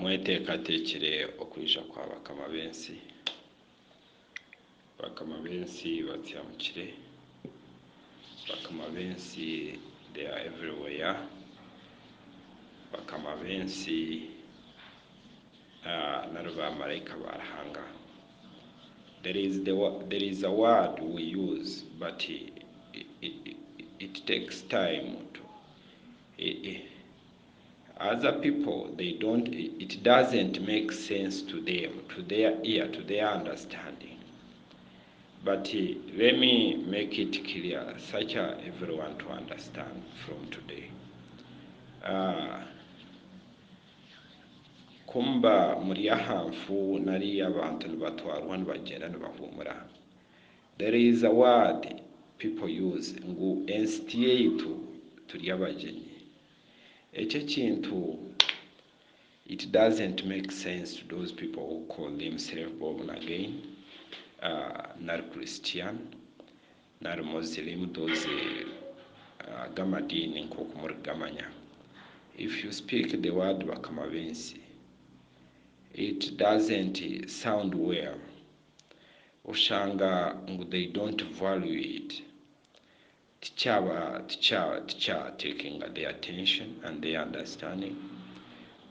Mweteekateekire okwija kwa bakama b'ensi. Bakama b'ensi batiamukire. Bakama b'ensi they are everywhere. Bakama b'ensi nari baamaraika ba Ruhanga. There is the word, there is a word we use but it takes time to. Eh eh other people they don't it doesn't make sense to them to their ear to their understanding but let me make it clear such a everyone to understand from today aah ku muba muri aha nfu nari abantu nibatwarwa nibagyenda nibahuumura There is a word people use ngu ensi tiyaitu turi abagyenyi. Eki ekintu it doesn't make sense to those people who call themselves born again nari Christian nari Muslim those aga amadiini nk'oku muri kugamanya. If you speak the word bakama b'ensi it doesn't sound well. oshanga ngu they don't value it tikyaba tikya tikya takinga their attention and their understanding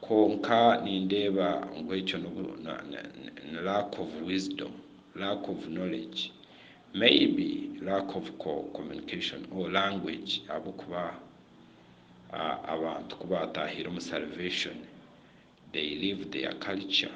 kwonka nindeeba ngu ekyo nobu ni lack of wisdom, lack of knowledge maybe lack of communication or language ahabw'okuba abantu ku baatahiire omu salvation they leave their culture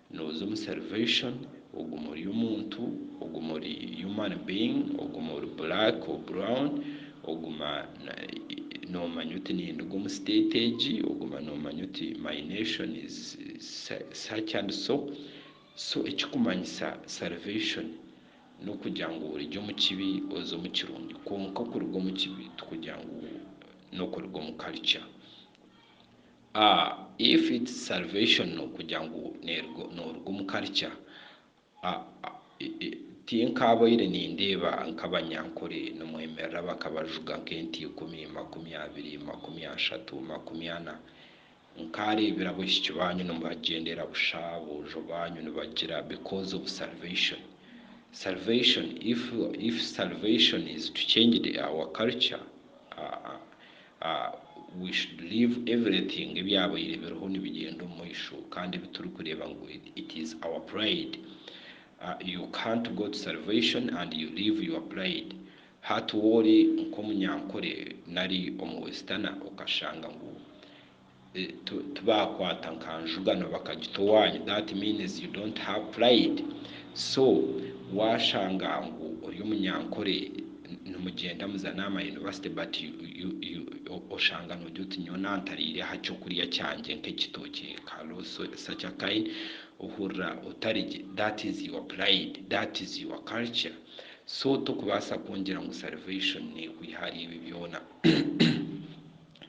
Nooza omu Salvation, ogume ori omuntu, ogume ori human being, ogume ori black or brown, oguma noomanya oti ninduga omu state egi, oguma noomanya oti my nation is such and so. So ekikumanyisa Salvation n'okugira ngu origye omu kibi oze omu kirungi. Kwonka kuruga omu kibi tikugira ngu n'okuruga omu culture. A If it's salvation nokugira ngu noruga omu culture a tinkabaire nindeeba nkabanyankore nimwemerera bakabajuga nk'ente ikumi, makumi abiri, makumi ashatu, makumi ana. Nkareebire aboishiki banyu nibagyendera busha, aboojo banyu nibagira because of salvation. Salvation if salvation is to change our culture a a. We should leave everything ebyabaire biriho nibigyenda omumaisho kandi ebiturikureeba ngu it is our pride you can't go to salvation and you leave your pride hati woori nkomunyankore nari omu westerner okashanga ngu tibakwata nka njuga no bakagita owanyu that means you don't have pride so washanga ngu ori omunyankore nimugyenda muzane ama university but oshanga nogye oti nyowe nantariire aha kyokurya kyangye nka ekitookye nka loso such a kind ohurira otari gye that is your pride that is your culture so tokubaasa kungira ngu salvation nekwiha ahari ebyo byoona.